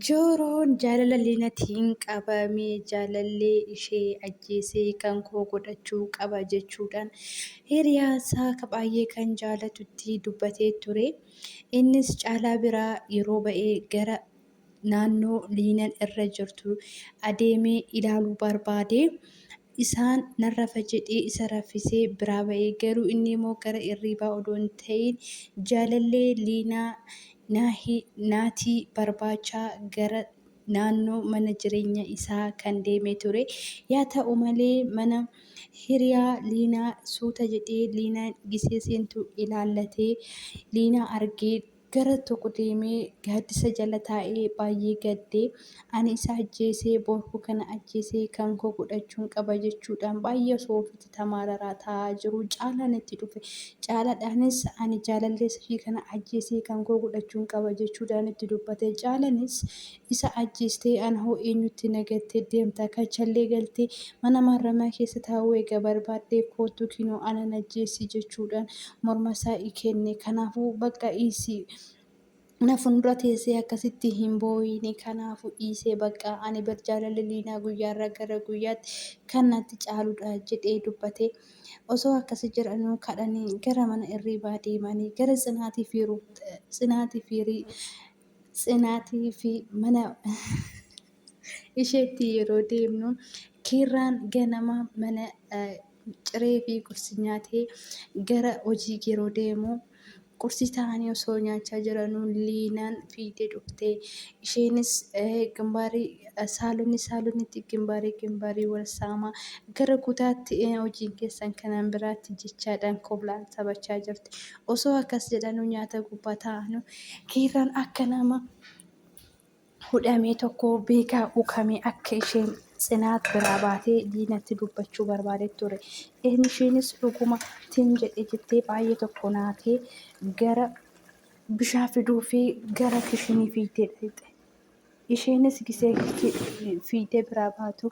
Jooroon jaalala Linatiin qabame jaalallee ishee ajjeesee kan koo godhachuu qaba jechuudhaan hiriyaasaa ka baay'ee kan jaalatutti dubbatee ture. Innis caalaa biraa yeroo ba'ee gara naannoo Liinan irra jirtu adeemee ilaaluu barbaade. Isaan, Nan rafa jedhee isa raffisee biraa ba'e. Garuu innimoo gara irriibaa odoo hin ta'iin jaalallee Liinaa, Naahi, Naatii barbaachaa gara naannoo mana jireenya isaa kan deeme ture. Yaa ta'u malee mana hiriyaa Liinaa suuta jedhee Liinaan gisee seentu ilaallatee Liinaa argee Gara tokko deemee gaaddisa jala taa'ee baay'ee gadde. Ani isa ajjeesee boorkuu kana ajjeesee kan koo godhachuun qaba jechuudhaan baay'ee osoo ofitti tamaararaa taa'aa jiru Caalaan itti dhufe. Caalaadhaanis ani jaalalleessa ishii kana ajjeesee kan koo godhachuun qaba jechuudhaan itti dubbate. Caalanis Isa ajjeestee ana hoo eenyutti na gattee deemta? Kachallee galtee mana maarramiyaa keessa taa'uu eega barbaadde koottu kinoo ana najjeessi jechuudhaan mormasaa ikenne. Kanaafuu bakka dhiisi na fuundura teessee akkasitti hin boo'iini kanaafuu dhiisee bakka ani bar jaalalli Liinaa guyyaarraa gara guyyaatti kan natti caaludha jedhee dubbate. Osoo akkasi jedhanuu kadhanii gara mana irriibaa deemanii gara Tsinaatii fi Ruut Tsinaatii fi Tsinaatii fi mana isheetti yeroo deemnu kiirraan ganama mana ciree fi qursi nyaatee gara hojii yeroo deemu qursi taa'anii osoo nyaachaa jiranuu liinaan fiidee dhufte isheenis gimbaarii saalonni saalonnitti gimbaarii gimbaarii wal saama gara kutaatti hojiin keessan kanaan biraatti jechaadhaan koblaan taphachaa jirti Osoo akkas jedhanuu nyaata gubbaa taa'anuu Kiirraan akka nama hudhamee tokkoo beekaa ukamee akka isheen Tsinaat biraa baatee Diinatti dubbachuu barbaadee ture. Isheenis dhuguma tin jedhe jettee baay'ee tokko naatee gara bishaan fiduufii gara kishinii fiigdee dhaqxe. isheenis gisee fiitee biraa baatu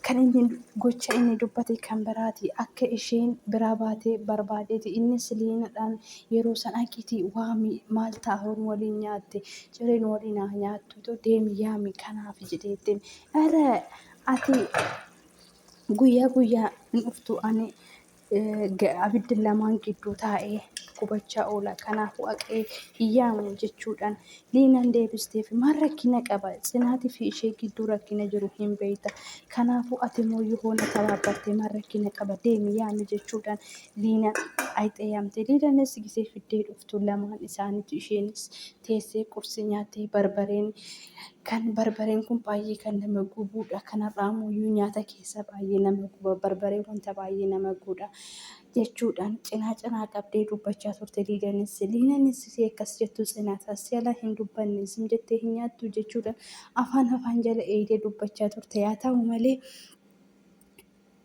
kan inni gocha inni dubbate kan biraati akka isheen biraa baatee barbaadeeti innis liinadhaan yeroo san aqiitii waami maal taa'uun waliin nyaatte cireen waliin haa nyaattutu deemi yaami kanaaf jedheettiin irra ati guyyaa guyyaa hin dhuftu ani abiddi lamaan gidduu taa'ee gubachaa oola. Kanaafuu haqee hin yaamu jechuudhaan Liinaan deebisteef. Maal rakkina qaba? Tsinaatii fi ishee gidduu rakkina jiru hin beekta. Kanaafuu ati immoo yoo na tabaabarte maal rakkina qaba? Deemi yaami jechuudhaan Liinaan ayxee yaamte. Liinaanis gisee fiddee dhuftu lamaan isaaniitu isheenis teessee qursi nyaattee barbareen Kan barbareen kun baay'ee kan nama gubuudha. Kanarraa immoo iyyuu nyaata keessa baay'ee nama guba. Barbaree wanta baay'ee nama guudha. Jechuudhaan cinaa cinaa qabdee dubbachaa turte Liidanis. Liinanis ishee akkas jettu cinaasaa si ala hin dubbanne isin jettee hin nyaattu jechuudhaan afaan afaan jala eegdee dubbachaa turte. Yaa ta'u malee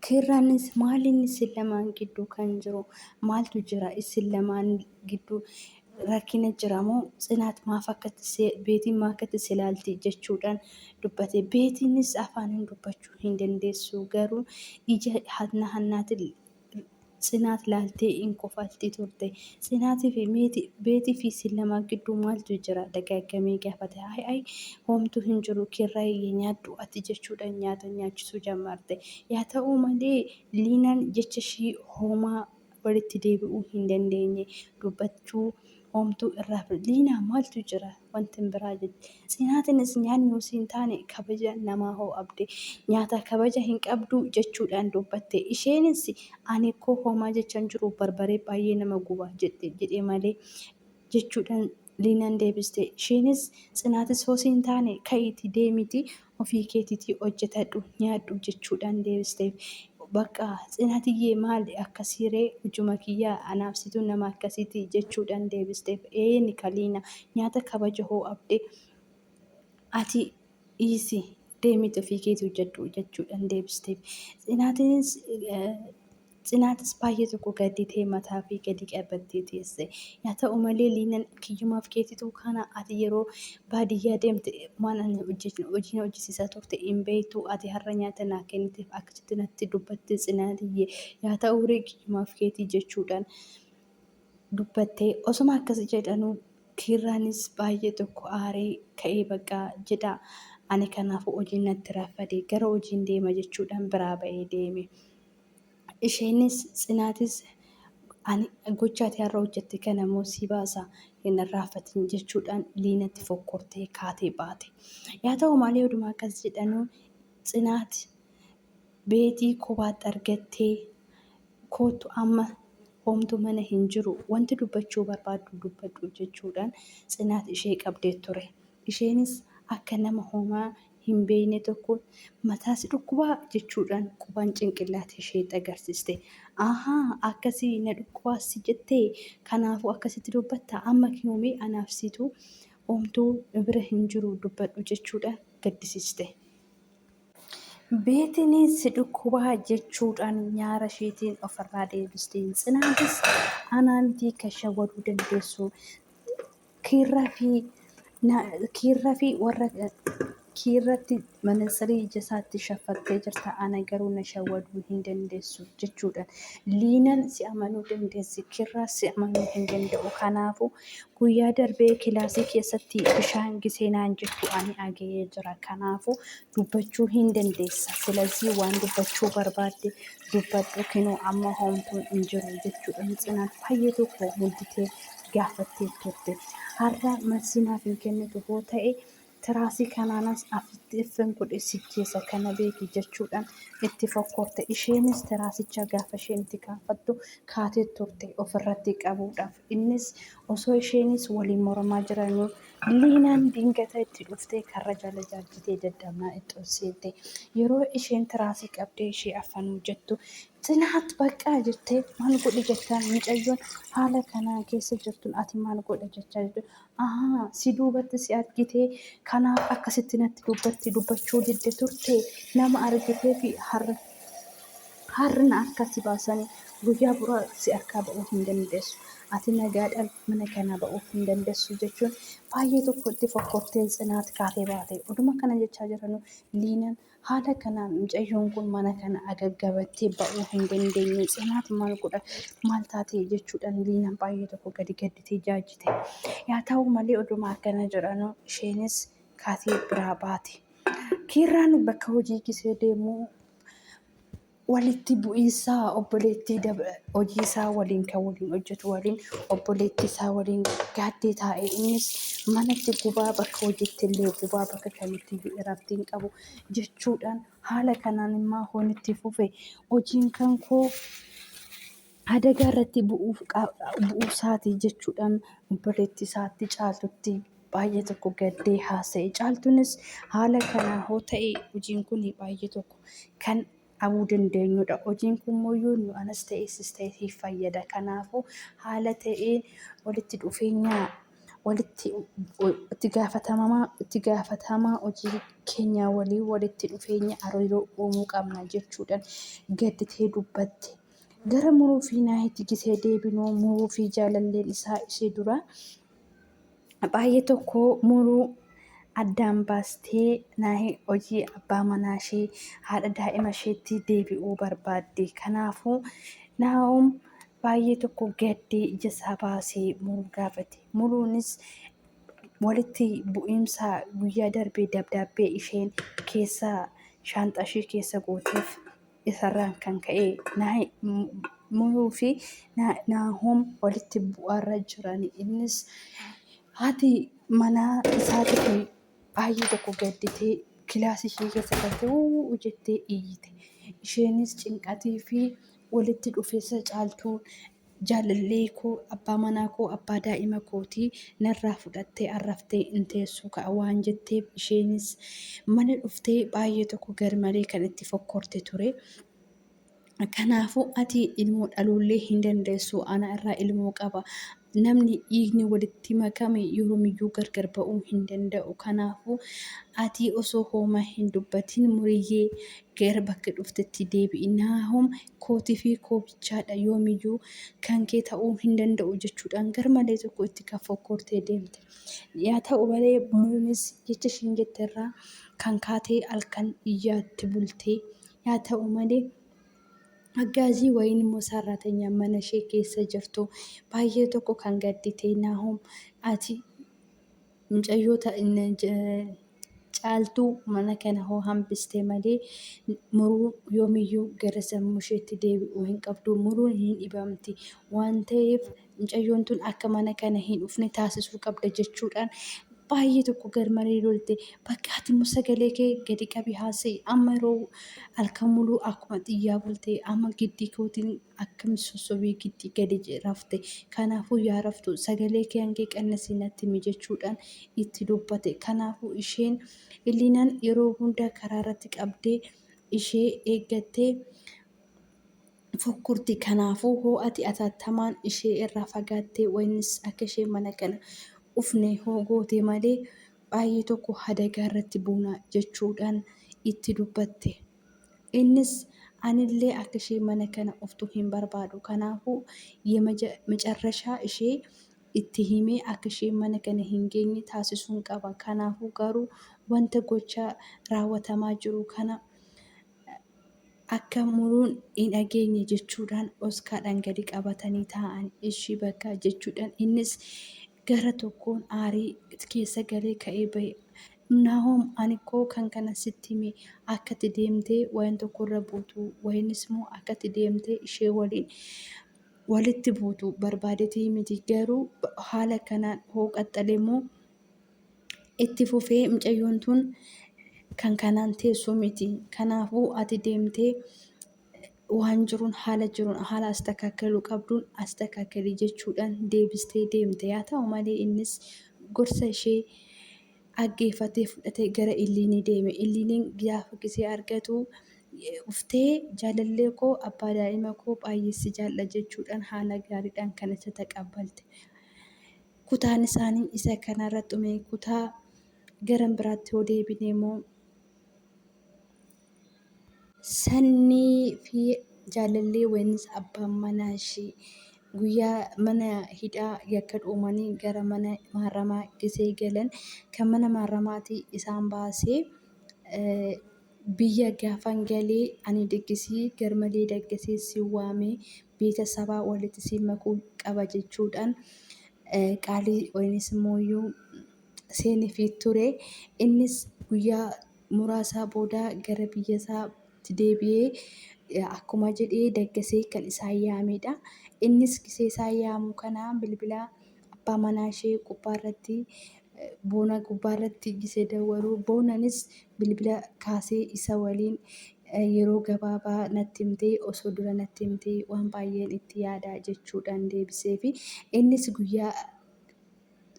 Kirraan maaliin isin lamaan gidduu kan jiru maaltu jira isin lamaan gidduu rakkina jira moo tsinaat maaf akkatti beetiin maa akkatti si ilaalti jechuudhaan dubbate beetiinis afaaniin dubbachuu hin dandeessu garuu ija hanna hannaatiin Tsinaat laaltee in kofalti turte. Tsinaatii fi meeti, Beetii fi isin lamaan gidduu maaltu jira? dagaaggamee gaafate. Ay ay, homtuu hin jiru, Kiirraayii nyaadhu ati jechuudhaan nyaata nyaachisuu jammarte. Yaa ta'uu malee Liinaan jecha ishii homaa walitti deebi'uu hin dandeenye. Dubbachuu. Hoomtuu irraa fudhadhu. Liinaa maaltu jira? Wantin biraa jette. Tsinaatinnis nyaanni usii hin taane kabaja namaa hoo'abde. Nyaata kabaja hin qabduu jechuudhaan dubbatte. Isheenis ani koo hoomaa jecha hin jiru barbaree baay'ee nama guba jette jedhe malee jechuudhaan Liinaan deebiste. Isheenis tsinaatis hoo siin taane ka'iiti deemiti ofii keetitii hojjetadhu nyaadhu jechuudhaan deebisteef. Baqqa Tsinatiyyee maali akkasii ree hujuma kiyyaa anaaf situu nama akkasiitii jechuudhaan deebisteef. Ee Nikaliina nyaata kabaja hoo abde ati dhiisi deemiti ofii keeti hojjedhu jechuudhaan deebisteef. Tsinatinis Tsinaatis baay'ee tokko gadditee mataafii gadi qabattee teesse. Yaa ta'u malee Liinan kiyyumaaf keetituu kana ati yeroo baadiyyaa deemte waan ani hojjechnu hojii na hojjisiisaa turte hin beektu ati har'a nyaata naa kenniteef akkasitti natti dubbatte tsinaatiyye yaa ta'u ree kiyyumaaf keetii jechuudhaan dubbattee osuma akkasi jedhanuu kiirraanis baay'ee tokko aaree ka'ee baqqaa jedha ani kanaafuu hojiin natti raffade gara hojiin deema jechuudhaan biraa ba'ee deeme. Isheenis Tsinaatis ani gocha ati har'a hojjette kana immoo sii baasa hin irraanfatin jechuudhaan Liinatti fokkortee kaatee baate. Yaa ta'u malee oduma akkas jedhanuu Tsinaat beetii kophaatti argattee koottu amma homtuu mana hin jiru wanti dubbachuu barbaaddu dubbadhu jechuudhaan Tsinaat ishee qabdee ture. Isheenis akka nama homaa hin beekne tokko Mataa si dhukkubaa? jechuudhaan qubaan cinqillaata isheetti agarsiste. Ahaa! Akkasii? Na dhukkubaas si jettee? Kanaafuu akkasitti dubbatta? Amma kinoo mee anaaf situ omtuu nu bira hin jiru dubbadhu jechuudhaan gaddisiste. Beetiinis si dhukkubaa? jechuudhaan nyaara isheetiin ofirraa deebiste. Tsinaatis anaa mitii kan shawwaduu dandeessu? Kiirraa fi na, kiirra fi warra kiirratti manansarii ija isaatti shaffattee jirta ana garuu na shawwaduu hin dandeessu jechuudhaan liinan si amanuu dandeessi kiirraa si amanuu hin danda'u kanaafu guyyaa darbee kilaasii keessatti bishaan gisee naan jettu ani aga'ee jira kanaafu dubbachuu hin dandeessa silazii waan dubbachuu barbaadde dubbadhu kinoo amma hoomtuun hin jiru jechuudhaan tsinaan baay'ee tokko mudditee gaafattee turte. Har'a marsii naaf hin kennitu hoo ta'e tiraasii kanaanas afitti iffin godhe si jeesa kana beeki jechuudhaan itti fokkorte. Isheenis tiraasicha gaafa isheen itti kaafattu kaatee turte ofirratti qabuudhaaf. Innis osoo isheenis waliin mormaa jiranuu liinaan dingata itti dhuftee karra jala jaajjitee dadhabnaa itti ol seente. Yeroo isheen tiraasii qabdee ishee affanuu jettu Tsilaat baqqaa jettee maal godhi jettaan mucayyoon haala kana keessa jirtun ati maal godha jechaa jirtu ahaa si duubatti si argitee kanaaf akkasitti natti dubbatti dubbachuu didde turte nama argitee fi har'a har'na harkaa si baasanii guyyaa buraa si harkaa ba'uu hin dandeessu ati nagaadhaan mana kanaa ba'uu hin dandeessu jechuun baay'ee tokko itti fokkortee tsinaat kaatee baate oduma kana jechaa jiranu liinaan Haala kanaan mucayyoon kun mana kana agaggabattee ba'uu hin dandeenye. Tsinaat maal godha maal taate jechuudhaan Liinaan baay'ee tokko gadi gadditee jaajjite. Yaa ta'u malee oduma akkana jedhanu isheenis kaatee biraa baate. Kiirraan bakka hojii gisee deemuu walitti bu'iinsa obboleettii hojii isaa waliin kan waliin hojjetu waliin obboleettii isaa waliin gaaddee taa'e innis manatti gubaa bakka hojiitti illee gubaa bakka kamitti iyyuu irratti hin qabu jechuudhaan haala kanaan immaa hoon itti fufe hojiin kan koo adagaa irratti bu'uuf bu'uusaati jechuudhaan obboleetti isaatti caaltutti baay'ee tokko gaddee haasa'e. Caaltuunis haala kanaa hoo ta'e hojiin kun baay'ee tokko kan dhabuu dandeenyudha. Hojiin kun immoo nu anas ta'e sis ta'e siif fayyada. Kanaafuu haala ta'een walitti dhufeenya walitti itti gaafatamaa itti gaafatamaa hojii keenyaa waliin walitti dhufeenya hariiroo uumuu qabna jechuudhaan gadditee dubbatte. Gara Muruu fi Naahitti gisee deebinu Muruu fi jaalalleen isaa ishee dura baay'ee tokko Muruu addaan baastee Naahi hojii abbaa manaa ishee haadha daa'ima isheetti deebi'uu barbaadde. Kanaafuu Naahom baay'ee tokko gaddee ija isaa baasee Muruu gaafate. Muruunis walitti bu'iinsa guyyaa darbee dabdaabbee isheen keessa shaanxaa ishee keessa gooteef isarraan kan ka'e Naahimuu fi Naahom walitti bu'aarra jiran. Innis haati manaa isaati kun baay'ee tokko gadditee kilaasii ishee keessa galtee uuu jettee iyyite. Isheenis cinqatii fi walitti dhufeessa caaltuu Jaalallee koo abbaa manaa koo abbaa daa'ima kootii narraa fudhattee arraftee hin teessuu ka'a waan jetteef isheenis mana dhuftee baay'ee tokko garmalee kan itti fokkorte ture. Kanaafuu ati ilmoo dhaluullee hin dandeessu ana irraa ilmoo qaba namni dhiigni walitti makame yoomiyyuu gargar ba'uu hin danda'u kanaafuu ati osoo hooma hin dubbatiin muriyyee gara bakka dhuftetti deebi'i naahom kootii fi koo bichaadha yoomiyyuu kan kee ta'uu hin danda'u jechuudhaan garmalee tokko itti kan fokkortee deemte. Yaa ta'u malee Muruunis jecha ishiin jette irraa kan kaatee halkan iyyaatti bultee. Yaa ta'u malee Aggaazii wayiin immoo saarraatanyaan mana ishee keessa jirtu baay'ee tokko kan gadditee Naahom ati Mucayyoo ta Caaltuu mana kana hoo hambiste malee Muruun yoomiyyuu gara sammuusheetti deebi'uu hin qabdu. Muruun hin dhibamti. Waan ta'eef mucayyoon tun akka mana kana hin dhufne taasisuu qabda jechuudhaan baay'ee tokko garmalee lolte. Bakka ati immoo sagalee kee gadi qabi haasa'i. Amma yeroo halkan muluu akkuma xiyyaa bulte amma giddii kootiin akkami sossobee giddii gadi rafte? Kanaafuu yaa raftu sagalee kee hangee qannasii natti himi jechuudhaan itti dubbate. Kanaafuu isheen Illiinaan yeroo hunda karaarratti qabdee ishee eeggattee fokkurti. Kanaafuu hoo ati atattamaan ishee irraa fagaattee waynis akka isheen mana kana ufne hoo goote malee baay'ee tokko hadagaa irratti buuna jechuudhaan itti dubbatte. Innis anillee akka ishee mana kana oftu hin barbaadu kanaafuu yemacarrashaa ishee itti himee akka isheen mana kana hin geenye taasisuun qaba kanaafuu garuu wanta gocha raawwatamaa jiru kana akka muruun hin dhageenye jechuudhaan oskaadhaan gadi qabatanii taa'an ishii bakka jechuudhaan innis Gara tokkoon aarii keessa galee ka'ee ba'e. Naahom, Ani koo kan kana sitti hime, akka ati deemtee wayeen tokko irra buutu, wayeenis immoo akka ati deemtee ishee waliin walitti buutu barbaadetii miti, garuu haala kanaan hoo qaxxale immoo itti fufee mucayyoon tun kan kanaan teessuu miti. Kanaafuu ati deemtee waan jiruun haala jiruun haala astakaakaluu qabduun astakaakalii jechuudhaan deebistee deemte yaa ta'u malee innis gorsa ishee dhaggeeffatee fudhatee gara illiinii deeme illiiniin gaafa gisee argatu uftee jaalallee koo abbaa daa'ima koo baay'eessi jaalla jechuudhaan haala gaariidhaan kan isa taqabbalte kutaan isaanii isa kanarra xumee kutaa garan biraatti yoo deebine immoo Sannii fi jaalallee waynis abbaan manaa ishii guyyaa mana hidhaa yakka dhuumanii gara mana maaramaa gisee galan kan mana maaramaatii isaan baasee biyya gaafan galee ani daggisii garmalee daggasee si waamee beeta sabaa walitti si makuu qaba jechuudhaan qaalii waynis mooyyuu seenifii ture innis guyyaa muraasaa booda gara biyyasaa tti deebi'ee akkuma jedhee Daggasee kan isaan yaameedha. Innis gisee isaan yaamuu kana bilbila abbaa manaa ishee gubbaarratti boona gubbaarratti gisee dawwalu boonanis bilbila kaasee isa waliin yeroo gabaabaa natti himtee osoo dura natti himtee waan baay'een itti yaada jechuudhaan deebiseefi innis guyyaa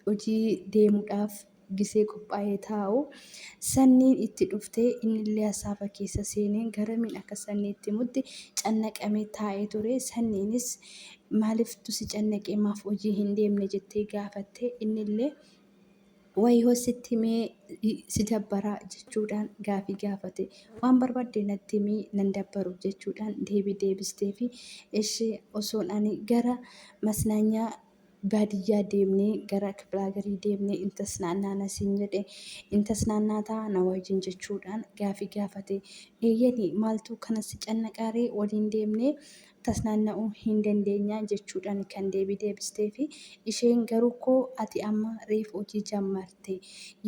hojii deemuudhaaf gisee qophaa'ee taa'u, Sanniin itti dhuftee innillee hasaafa keessa seenee garamiin akka Sannii itti himutti cannaqamee taa'ee ture. Sanniinis maaliftu si cannaqee maaf hojii hin deemne jettee gaafatte. Innillee wayihoo sitti himee si dabbaraa jechuudhaan gaafii gaafate. Waan barbaadde natti himii nan dabbaru jechuudhaan deebii deebisteefi ishee osoon ani gara masnaanyaa baadiyyaa deemnee gara kiplaagarii deemnee in tasnaannaana siin jedhe in tasnaannaataa na wajjin jechuudhaan gaafii gaafate. Eeyyeni maaltu kana si cannaqaaree waliin deemnee tasnaanna'uu hin dandeenyaa jechuudhaan kan deebii deebisteefi. Isheen garuukkoo ati amma reefu hojii jammarte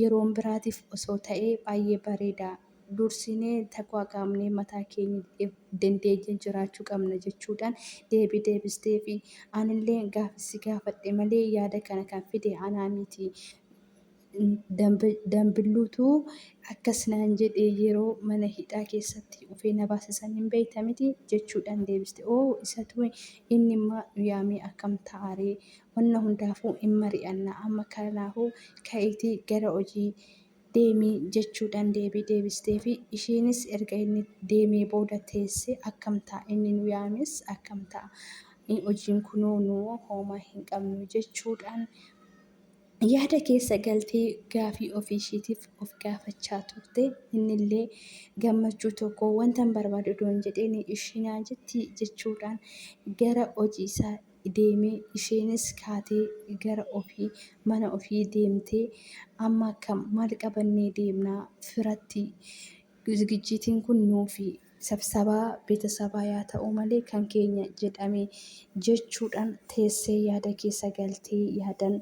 yeroon biraatiif osoo ta'ee baay'ee bareeda. dursinee taqwaaqaamnee mataa keenyaf dandeenya jiraachuu qabna jechuudhaan deebii deebisteefi. Anillee gaafii si gaafadhe malee yaada kana kan fide anaa miti. Danbilluutu akkas naan jedhe yeroo mana hidhaa keessatti ufee na baase san hin beekta miti? jechuudhaan deebiste. Oo isatu inni imma nu yaamee akkam ta'a ree? Wanna hundaafuu hin mari'anna amma kanaafuu ka'iitii gara hojii deemi jechuudhaan deebii deebisteefi. Ishiinis erga inni deemee booda teessee akkam ta'a inni nu yaames akkam ta'a hojiin kunoo nu hooma hin qabnu jechuudhaan yaada keessa galtee gaafii ofiishiitiif of gaafachaa turte. Innillee gammachuu tokko wantan barbaadu odoon jedheen ishiinaa jetti jechuudhaan gara hojii isaa deeme, isheenis kaatee gara ofii, mana ofii deemtee amma akkam, maal qabannee deemna firatti, zigijjiitiin kun nuufi sabsabaa betasabaa yaa ta'uu malee kan keenya jedhame jechuudhan teessee yaada keessa galtee yaadan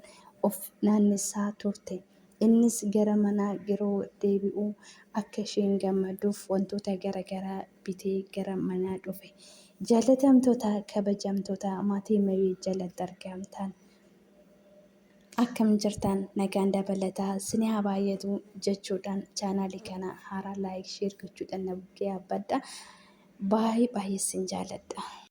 of naannessaa turte. Innis gara manaa yeroo deebi'u akka isheen gammaduuf wantoota gara garaa. bitee gara manaa dhufe. Jaalatamtootaa kabajamtootaa maatii Merii jalatti argamtaan akkam jirtaan nagaan dabalataa sini haa baay'atu jechuudhaan chaanaalii kana haaraa laayik sheer gochuudhaan na bukkee yaabbadha. Baay'ee baay'ee sin jaaladha.